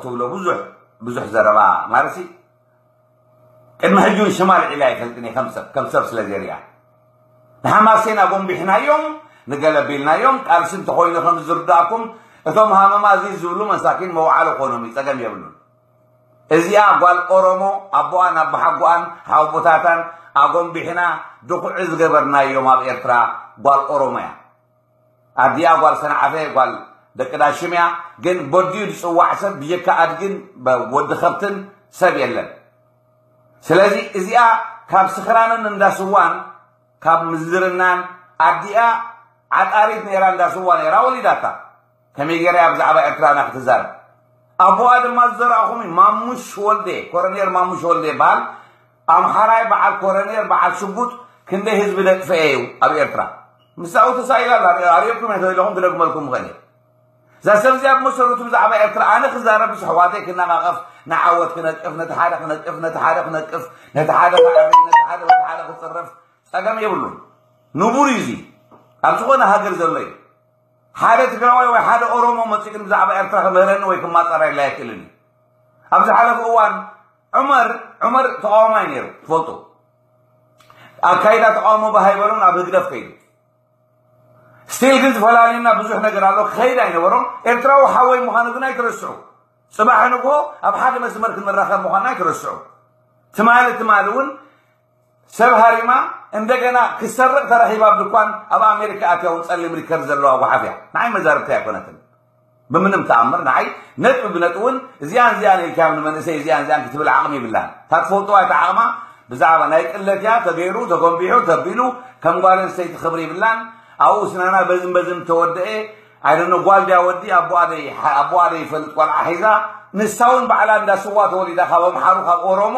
ትብሎ ብዙሕ ብዙሕ ዘረባ ማለትሲ ቅድሚ ሕጂ እውን ሽማ ልዒላ ኣይፈልጥን እየ ከም ሰብ ከም ሰብ ስለ ዘርእያ ንሓማሴን ኣጎንቢሕናዮም ንገለ ቢልናዮም ቃልሲ እንተኮይኑ ከም ዝርዳእኩም እቶም ሃመማ እዚ ዝብሉ መሳኪን መውዓሎ ኮኖም እዩ ፀገም የብሉን እዚኣ ጓል ኦሮሞ ኣቦኣን ኣቦሓጎኣን ሓወቦታታን ኣጎንቢሕና ድኩዒ ዝገበርናዮም ኣብ ኤርትራ ጓል ኦሮሞ እያ ኣዲኣ ጓል ሰንዓፈ ጓል ደቂ ዳሽም እያ ግን በዲኡ ዝፅዋዕ ሰብ ብጀካ ኣድግን ወዲ ከብትን ሰብ የለን ስለዚ እዚኣ ካብ ስኽራንን እንዳስዋን ካብ ምዝርናን ኣዲኣ ዓጣሪት ነይራ እንዳስዋ ነይራ ወሊዳታ ከመይ ገይረ እያ ብዛዕባ ኤርትራውና ክትዛረብ ኣቦኣ ድማ ዝዘረእኹም እዩ ማሙሽ ወልዴ ኮረኔር ማሙሽ ወልዴ ይበሃል ኣምሓራይ በዓል ኮረኔር በዓል ሽጉጥ ክንደይ ህዝቢ ደጥፈኤ እዩ ኣብ ኤርትራ ምሳኡ ተሳኢላ ኣርእኩም እየ ተለኹም ክደግመልኩም ኸእል እየ እዛ ሰብ እዚኣ ብመሰረቱ ብዛዕባ ኤርትራ ኣነ ክዛረብ ምስ ኣሕዋተይ ክነቃቐፍ ንዓወት ክነቅፍ ነቲ ሓደ ክነቅፍ ነቲ ሓደ ክነቅፍ ነቲ ሓደ ክዓሪ ነቲ ሓደ ነቲ ሓደ ክፅረፍ ፀገም የብሉን ንቡር እዩ እዚ ኣብ ዝኾነ ሃገር ዘሎ እዩ ሓደ ትግራዋይ ወይ ሓደ ኦሮሞ መፂኡ ግን ብዛዕባ ኤርትራ ክምህረኒ ወይ ክማፀረየላ ኣይክእልን እዩ ኣብ ዝሓለፈ እዋን ዑመር ዑመር ተቃዋማይ ነይሩ ትፈልጡ ኣካይዳ ተቃውሞ ባሃይበሎም ናብ ህግደፍ ከይዱ ስቲል ግን ዝፈላለዩና ብዙሕ ነገር ኣሎ ክኸይድ ኣይነበሮም ኤርትራዊ ሓወይ ምዃኑ ግን ኣይትረስዑ ፅባሕ ንግሆ ኣብ ሓደ መስመር ክንራኸብ ምዃና ኣይትረስዑ ትማሊ ትማሊ እውን ሰብ ሃሪማ እንደገና ክትሰርቕ ተረኺባ ኣብ ድኳን ኣብ ኣሜሪካ ኣትያ እውን ጸሊም ሊከር ዘለዋ ጓሓፍ እያ ንዓይ መዛርብቲ ኣይኮነትን ብምንም ተኣምር ንዓይ ነጥቢ ብነጥቢ እውን እዚኣን እዚኣን ኢልካዮም ንመንእሰይ እዚኣን እዚኣን ክትብል ዓቕሚ ይብላን እታ ትፈልጥዋ እቲ ዓቕማ ብዛዕባ ናይ ቅለት እያ ተገይሩ ተጎንቢሑ ተቢሉ ከም ጓል ኣንስተይቲ ክብሪ ይብላን ኣብኡ ስናና በዝም በዝም ተወደአ ኣይደኖ ጓል ድያ ወዲ ኣቦኣደይ ኣቦኣደይ ይፈልጥ ቆልዓ ሒዛ ንሳ እውን ባዕላ እንዳ ስዋ ተወሊዳ ካብ ኣምሓሩ ካብ ኦሮሞ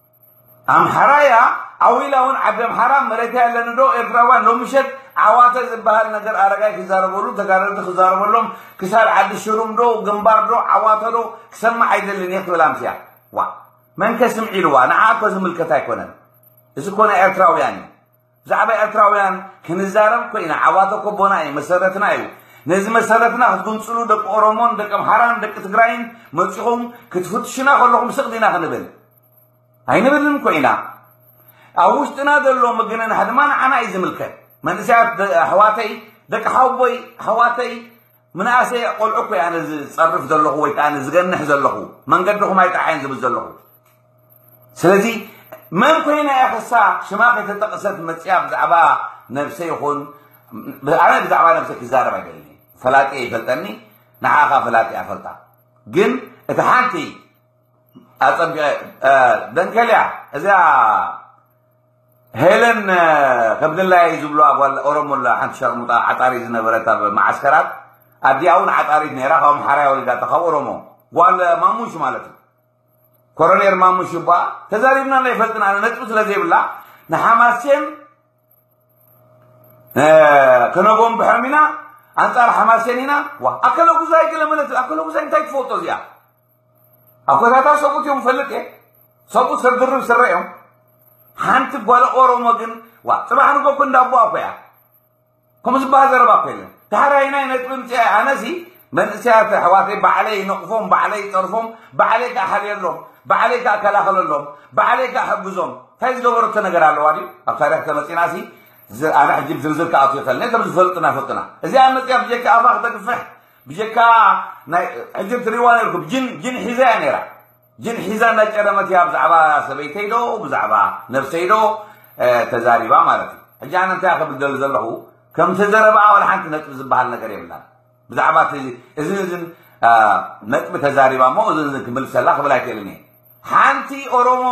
ኣምሓራ እያ ዓው ኢላ እውን ዓዲ ኣምሓራ መሬተይ ኣለኒ ዶ ኤርትራውያን ሎሚ ምሸት ዓዋተ ዝበሃል ነገር ኣረጋይ ክዛረበሉ ተጋደልቲ ክዛረበሎም ክሳብ ዓዲ ሽሩም ዶ ግንባር ዶ ዓዋተ ዶ ክሰማዕ ኣይደልን እየ ክብል ኣምስያ ዋ መንከ ስምዒ ኢልዋ ንዓ እኮ ዝምልከት ኣይኮነን እዚ ኮነ ኤርትራውያን እዩ ብዛዕባ ኤርትራውያን ክንዛረብ ኮይና ዓዋተ ኮቦና እዩ መሰረትና እዩ ነዚ መሰረትና ክትጉንጽሉ ደቂ ኦሮሞን ደቂ ኣምሓራን ደቂ ትግራይን መጺኹም ክትፍትሹና ከለኹም ስቕ ዲና ክንብል ኣይንብልን ኮይና ኣብ ውሽጥና ዘሎ ምግንናሕ ድማ ንዓና እዩ ዝምልከት መንእሰያት ኣሕዋተይ ደቂ ሓውቦይ ኣሕዋተይ ምንኣሰይ ቆልዑ እኮ ኣነ ዝፀርፍ ዘለኹ ወይ ከዓ ዝገንሕ ዘለኹ መንገድኹም ኣይጠዓይን ዝብል ዘለኹ ስለዚ መን ኮይና እያ ክሳ ሽማ ከይተጠቕሰት መፅያ ብዛዕባ ነብሰ ይኹን ኣነ ብዛዕባ ነብሰ ክዛረብ ኣይደልኒ ፈላጢ ይፈልጠኒ ንዓኻ ፈላጢ ኣፈልጣ ግን እቲ ሓንቲ ኣፀቢቐ ደንከልያ እዚኣ ሄለን ከም ድላየይ ዝብሉዋ ጓል ኦሮሞ ኣላ ሓንቲ ሸርሙጣ ዓጣሪት ዝነበረት ኣብ መዓስከራት ኣዲኣ እውን ዓጣሪት ነይራ ካብ ኣምሓራያ ወሊዳታ ካብ ኦሮሞ ጓል ማሙሽ ማለት እዩ ኮሮኔር ማሙሽ ይባ ተዛሪብና ናይ ፈልጥና ኣነ ነጥቢ ስለ ዘይብላ ንሓማሴን ከነጎም ብሖም ኢና ኣንጻር ሓማሴን ኢና ዋ ኣከለ ጉዛይ ገለ መለት ኣከለ ጉዛይ እንታይ ትፈልጦ እዚኣ ኣኮታታ ሰብኡት እዮም ፈልጥ እየ ሰብኡ ሰብ ድርብ ስረ እዮም ሓንቲ ጓል ኦሮሞ ግን ዋ ፅባሕ ንጎ እኮ እንዳቦ ኣኮ እያ ከምኡ ዝበሃል ዘረባ እኮ የለን ዳሕራይ ናይ ነጥቢ ምፅኣ ኣነሲ መንእሰያት ኣሕዋተይ ባዕለይ ነቕፎም ባዕለይ ይፀርፎም ባዕለይ ከዓ ሓልየሎም ባዕለይ ከዓ ከላኸለሎም ባዕለይ ከዓ ሕግዞም እንታይ ዝገበረቶ ነገር ኣለዋ ድዩ ኣብ ታሪክ ተመፂና ሲ ኣነ ሕጂ ዝርዝር ክኣትዮ ከለኒ ከም ዝፈልጡና ፈልጡና እዚኣ መፅያ ብጀካ ኣፋ ክተግፍሕ ብጀካ ናይ ሕጂ ትሪዋ ነርኩም ጅን ጅን ሒዛ እያ ነራ ጅን ሒዛ እናጨረመት እያ ብዛዕባ ሰበይተይ ዶ ብዛዕባ ነብሰይ ዶ ተዛሪባ ማለት እዩ ሕጂ ኣነ እንታይ ክብል ደሊ ዘለኹ ከም ተዘረበኣ ወላ ሓንቲ ነጥቢ ዝበሃል ነገር የብላን ብዛዕባ እዚ እዝን ነጥቢ ተዛሪባ እሞ እዚ እዚ ክምልሰላ ክብል ኣይክእልን እየ ሓንቲ ኦሮሞ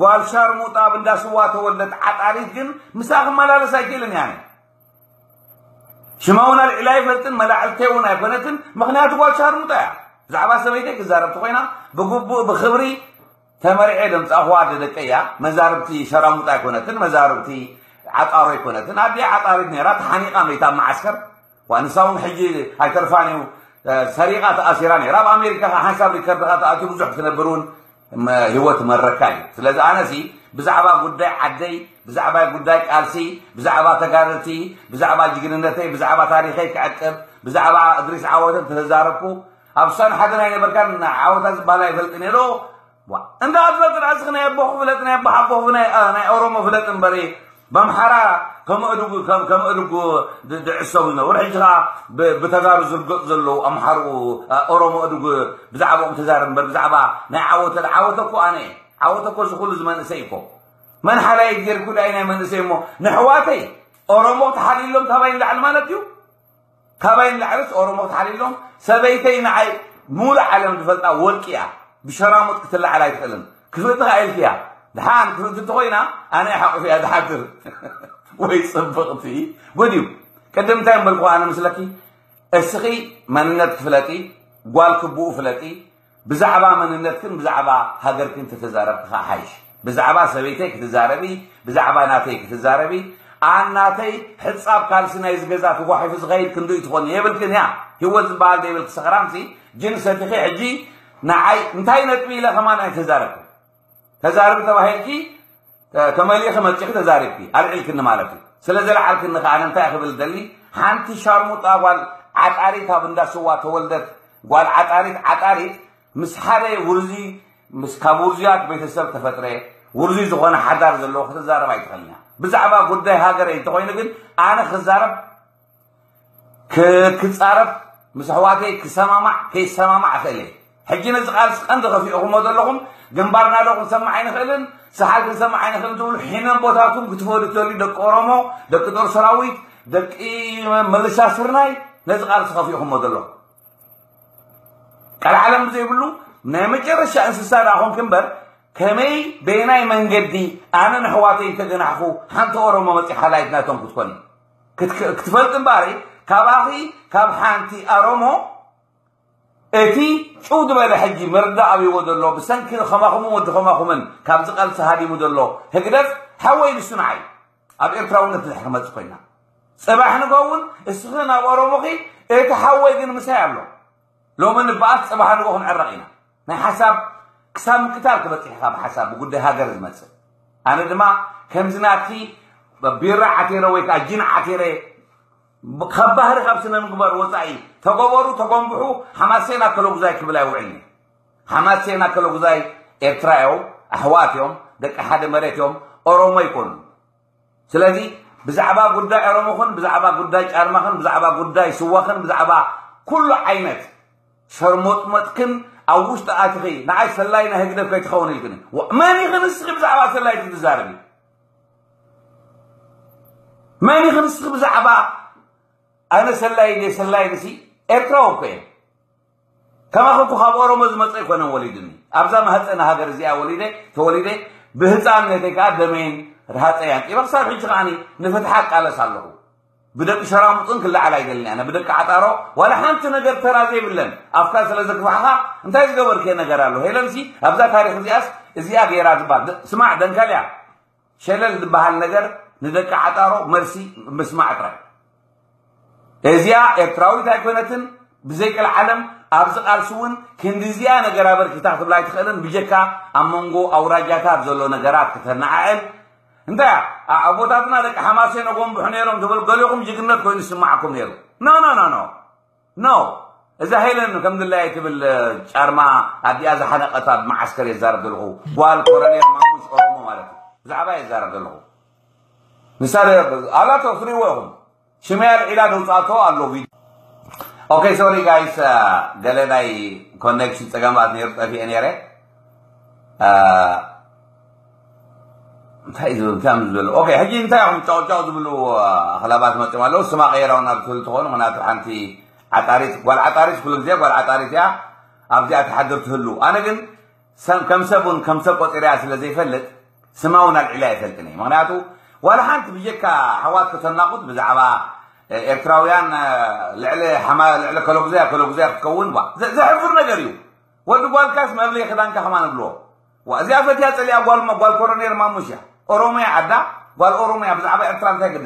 ጓል ሻርሙጣ ኣብ እንዳ ስዋ ተወለድ ዓጣሪት ግን ምሳ ክመላለስ ኣይክእልን እያ ሽማ እውን ኣልዒላ ኣይፈልጥን መላዕልተይ እውን ኣይኮነትን ምክንያቱ ጓል ሻርሙጣ እያ ብዛዕባ ሰበይተይ ክዛረብ ተኮይና ብግቡእ ብክብሪ ተመሪዐ ደምፃኹዋ ኣደ ደቀ እያ መዛርብቲ ሸራሙጣ ኣይኮነትን መዛርብቲ ዓጣሮ ኣይኮነትን ኣዲኣ ዓጣሪት ነራ ተሓኒቃ መይታ ኣብ መዓስከር ንሳ እውን ሕጂ ኣይተርፋን እዩ ሰሪቃ ተኣሲራ ነራ ኣብ ኣሜሪካ ሓንሳብ ሪከርድካ ተኣትዩ ብዙሕ ክትነብር እውን ህይወት መረካ እዩ ስለዚ ኣነሲ ብዛዕባ ጉዳይ ዓደይ ብዛዕባ ጉዳይ ቃልሲ ብዛዕባ ተጋደልቲ ብዛዕባ ጅግንነተይ ብዛዕባ ታሪኸይ ክዕቅብ ብዛዕባ እድሪስ ዓወትን ተዛረብኩ ኣብ ሳን ሓደ ናይ ነበርካን ዓወታ ዝበሃል ኣይፈልጥ ነይሮ እንዳ ኣትፈልጥ ራስኽ ናይ ኣቦኹ ፍለጥ ናይ ኣቦሓቦኹ ናይ ኦሮሞ ፍለጥ እምበሪ በምሓራ ከመእድጉ ከም ከመእድጉ ድ- ድዕሰቡ ይነበሩ ሕጂ ከዓ ብ- ብተጋሩ ዝርገፁ ዘለዉ ኣምሓርኡ ኣ- ኦሮሞ እድጉ ብዛዕባኦም ተዛረብ እምበር ብዛዕባ ናይ ዓወተ ድ- ዓወተ እኮ ኣነ እየ። ዓወተ እኮ እዚ ኩሉ ዝመንእሰይ እኮ መን ሓላይ እግዜር ኩዳይ ናይ መንእሰይ እሞ ንሕዋተይ ኦሮሞ ተሓሊሎም ታባይ ንላዕሊ ማለት እዩ ካባይ ንላዕልስ ኦሮሞ ተሓሊሎም ሰበይተይ ንዓይ ሙሉእ ዓለም ዝፈልጣ ወርቂ እያ ብሸራሙጥ ክትላዓል ኣይትኽእልን ክፍእቲ ከኣ ኢልክያ ድሓን ክፍእቲ እንተኾይና ኣነ ሓቑፍ እያ ዝሓድር ወይ ጽብቕቲ ጉድ እዩ ቅድም እንታይ ምበልኩ ኣነ ምስለኪ እስኺ መንነት ክፍለጢ ጓል ክቡኡ ፍለጢ ብዛዕባ መንነትክን ብዛዕባ ሃገርክን ተተዛረብኪ ከኣ ሓይሽ ብዛዕባ ሰበይተይ ክትዛረቢ ብዛዕባ ናተይ ክትዛረቢ ኣን ናተይ ሕጻብ ካልሲ ናይዚ ገዛ ተጓሒፉ ዝኸይድ ክንድኡ ትኾኒ የብልክን እያ ህይወት ዝበሃል ዘይብልኪ ሰኽራምሲ ጅን ሰቲኺ ሕጂ ንዓይ እንታይ ነጥቢ ኢለ ከማን ኣይተዛረብክን ተዛርቢ ተባሂልኪ ተመሊኺ መፂኺ ተዛሪብኪ ኣልዒልክኒ ማለት እዩ ስለ ዘልዓልክኒ ከዓ እንታይ ክብል ደሊ ሓንቲ ሻርሙጣ ጓል ዓጣሪት ኣብ እንዳ ስዋ ተወልደት ጓል ዓጣሪት ዓጣሪት ምስ ሓደ ውርዚ ምስ ካብ ውርዝያት ቤተሰብ ተፈጥረ ውርዚ ዝኾነ ሓዳር ዘለዎ ክትዛረብ ኣይትኽእልኛ ብዛዕባ ጉዳይ ሃገረይ እንተኮይኑ ግን ኣነ ክዛረብ ክጻረፍ ምስ ኣሕዋተይ ክሰማማዕ ከይሰማማዕ እኽእል እየ ሕጂ ነዚ ቃልሲ ቀንዲ ከፊእኹሞ ዘለኹም ግንባርና ዶ ክንሰማዕ ኣይንኽእልን ሰሓል ክንሰማዕ ኣይንኽእልን ትብሉ ሒመን ቦታቱም ክትፈዱ ተልዩ ደቂ ኦሮሞ ደቂ ጦር ሰራዊት ደቂ መልሻ ስርናይ ነዚ ቃልሲ ከፊእኹሞ ዘለኹም ቃል ዓለም ብዘይብሉ ናይ መጨረሻ እንስሳ ዳ ኮንክ እምበር ከመይ በየናይ መንገዲ ኣነ ንሕዋተይ እንተገናሕኹ ሓንቲ ኦሮሞ መፂ ሓላይት ናቶም ክትኮን እዩ ክትክ- ክትፈልጥ እምበኣሪ ካባኺ ካብ ሓንቲ ኣሮሞ እቲ ጭው ዝበለ ሕጂ መርዳ ኣብይዎ ዘሎ ብሰንኪ ከማኹምን ወዲ ከማኹምን ካብዚ ቃልሲ ሃዲሙ ዘሎ ህግደፍ ሓወይ ንሱ ንዓይ ኣብ ኤርትራውነት ድሕሪ ክመጽእ ኮይና ጽባሕ ንጎውን እስኺ ናብ ኦሮሞኺ እቲ ሓወይ ግን ምሳይ ኣሎ ሎሚ ንበኣስ ጽባሕ ንግሆ ክንዕረቕ ኢና። ናይ ሓሳብ ክሳብ ምቅታል ክበጽሕ ኢኻ ብሓሳብ ብጉዳይ ሃገር ዝመጽእ ኣነ ድማ ከምዚ ናትኪ ቢራ ዓቲረ ወይ ከዓ ጂን ዓቲረ ካብ ባህሪ ካብ ስነ ምግባር ወፃኢ ተገበሩ ተጎንብሑ ሓማሴና ከለጉዛይ ክብል ኣይውዕልኒ ሓማሴና ከለጉዛይ ኤርትራ እዮም ኣሕዋት እዮም ደቂ ሓደ መሬት እዮም ኦሮሞ ይኮኑ ስለዚ ብዛዕባ ጉዳይ ኦሮሞኹን ብዛዕባ ጉዳይ ጫርማኽን ብዛዕባ ጉዳይ ስዋኽን ብዛዕባ ኩሉ ዓይነት ሸርሞጥመጥክን ኣብ ውሽጢ ኣትኺ ንዓይ ሰላይ ናይ ህግደፍ ከይትኸውን ኢልክኒ መን ኢኺ ንስኺ ብዛዕባ ሰላይት ክትዛረቢ መን ኢኺ ንስኺ ብዛዕባ ኣነ ሰላይ ሰላይ ንሲ ኤርትራዊ እኮ እየ ከማኺ እኮ ካብ ኦሮሞ ዝመፀ ኣይኮነን ወሊዱኒ ኣብዛ ማህፀነ ሃገር እዚኣ ወሊደ ተወሊደ ብህፃንነተይ ከዓ ደመይን ርሃፀይ ኣንጢበ ክሳብ ሕጂ ከዓኒ ንፍትሓ እቃለስ ኣለኹ ብደቂ ሸራሙጥን ክለዓል ኣይደልን ኣነ ብደቂ ዓጣሮ ዋላ ሓንቲ ነገር ተራ ዘይብለን ኣፍካ ስለ ዘግፋሕኻ እንታይ ዝገበርከ ነገር ኣሎ ሄለንሲ ኣብዛ ታሪክ እዚኣስ እዚኣ ገይራ ዝበሃል ስማዕ ደንከልያ ሸለል ዝበሃል ነገር ንደቂ ዓጣሮ መልሲ ምስማዕ ጥራይ እዚኣ ኤርትራዊት ኣይኮነትን ብዘይቅልዓለም ኣብዚ ቃልሲ እውን ክንዲዚኣ ነገር ኣበርኪታ ክትብላ ኣይትኽእልን ብጀካ ኣብ መንጎ ኣውራጃታት ዘሎ ነገራት ክተነዓዕል እንታይ ኣቦታትና ደቂ ሓማሴን ኣጎንብሑ ነይሮም ትብል ገሊኹም ጅግነት ኮይኑ ዝስማዓኩም ነይሩ ኖ ኖ ኖ ኖ ኖው እዛ ሄለን ከምድላየ ትብል ጫርማ ኣዲኣ ዝሓነቀት ኣብ መዓስከር የዛረብ ዘለኹ ጓል ኮረኔል ማሙሽ ኦሮሞ ማለት እዩ ብዛዕባ የዛረብ ዘለኹ ንሳ ኣላቶ ትሪእዎ ኢኹም ሽመይ ኣልዒላ ደውፃቶ ኣሎ ቪድዮ ኦኬ ሶሪ ጋይስ ገለ ናይ ኮኔክሽን ፀገማት ነይሩ ጠፊኤ ነይረ እንታይ እዩ ዝብል እንታይ እዩ ዝብል ኦኬ ሕጂ እንታይ እዮም ጫውጫው ዝብሉ ኣኽላባት መፅኦም ኣለዉ ስማ ቀይራው ናብ ትብል ትኾኑ ምክንያቱ ሓንቲ ዓጣሪት ጓል ዓጣሪት ኩሉ ግዜ ጓል ዓጣሪት እያ ኣብዚኣ ትሓድር ትህሉ ኣነ ግን ከም ሰብ እውን ከም ሰብ ቆፂርያ ስለ ዘይፈልጥ ስማ እውን ኣልዒላ ይፈልጥን እየ ምክንያቱ ዋላ ሓንቲ ብጀካ ኣሕዋት ከተናቑት ብዛዕባ ኤርትራውያን ልዕሊ ሓማ ልዕሊ ከለጉዘያ ከለጉዘያ ክትከውን ዘሕፍር ነገር እዩ ወዲ ጓልካስ መብለይ ክዳንካ ከማ ንብልዎ ዋእ እዚኣ ፈትያ ጸሊኣ ጓል ጓል ኮሮኔር ማሙሽ እያ ኦሮሞ እያ ዓዳ ጓል ኦሮሞ እያ ብዛዕባ ኤርትራ እንታይ ግድሳ።